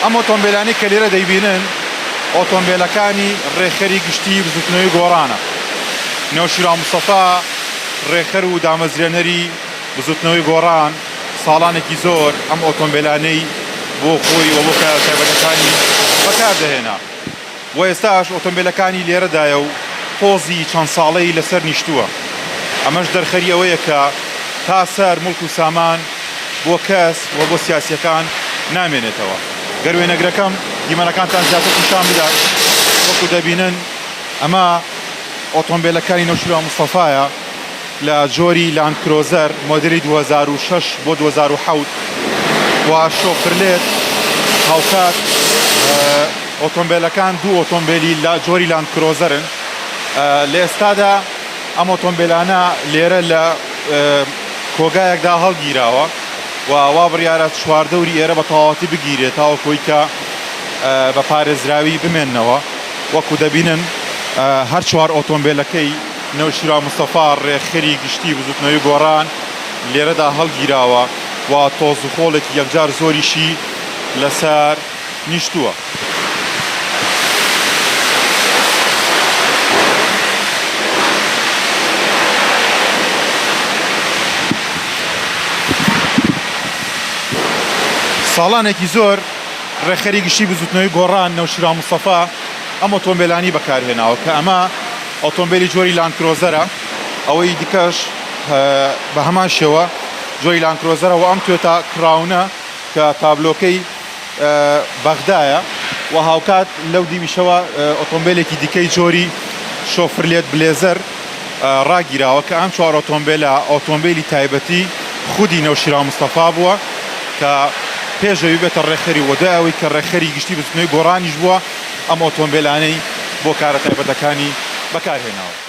ئەم ئۆتۆمبێلانەی کە لێرە دەیبینن ئۆتۆمبێلەکانی ڕێکخەری گشتیی بزووتنەوەی گۆڕانە. نەوشیروان مستەفا، ڕێکخەر و دامەزرێنەری بزووتنەوەی گۆڕان ساڵانێکی زۆر ئەم ئۆتۆمبێلانەی بۆ خۆی و بۆ کایە تایبەتەکانی بەکاردەهێنا. و ئێستاش ئۆتۆمبێلەکانی لێرەدایە و تۆزی چەند ساڵەی لەسەر نیشتووە، ئەمەش دەرخەری ئەوەیە کە تا سەر موڵک و سامان بۆ کەس و بۆ سیاسییەکان نامێنێتەوە. گەر وێنەگرەکەم دیمەنەکانتان زیاتر پیشان بدات، وەکو دەبینن ئەمە ئۆتۆمبێلەکانی نەوشیروان مستەفایە، لە جۆری لاند کرۆزەر مۆدێلی دوو هەزار و شەش بۆ دوو هەزار و حەوت و شۆفرلێت، هاوکات ئۆتۆمبێلەکان دوو ئۆتۆمبێلی جۆری لاند کرۆزەرن، لە ئێستادا ئەم ئۆتۆمبێلانە لێرە لە کۆگایەکدا هەڵگیراوە و وا بڕیارە چواردەوری ئێرە بە تەواوەتی بگیرێت تاوەکو ئەوەی کە بە پارێزراوی بمێننەوە، وەکو دەبینن هەر چوار ئۆتۆمبێلەکەی. نەوشیروان مستەفا، رێکخەری گشتیی بزوتنەوەی گۆڕان لێرەدا هەڵگیراوە و تۆز و خۆڵێکی یەکجار زۆریشی لەسەر نیشتووە. ساڵانێکی زۆر رێکخەری گشتیی بزوتنەوەی گۆڕان نەوشیروان مستەفا ئەم ئۆتۆمبێلانەی بەکارهێناوە کە ئەمە ئۆتۆمبێلی جۆری لاندکرۆزەرە، ئەوەی دیکەش بە هەمان شێوە جۆری لاندکرۆزەرە و ئەم توێتا کڕاونە کە تابلۆکەی بەغدایە و هاوکات لەو دیویشەوە ئۆتۆمبێلێکی دیکەی جۆری شۆفرلێت بلێزەر ڕاگیراوە کە ئەم چوار ئۆتۆمبێلە ئۆتۆمبێلی تایبەتی خودی نەوشیروان مستەفا بووە کە پێش ئەوی بێتە ڕێکخەری و دوای ئەوەی کە ڕێکخەری گشتی بزوتنەوەی گۆڕانیش بووە ئەم ئۆتۆمبێلانەی بۆ کارە تایبەتەکانی بەکارهێناوە.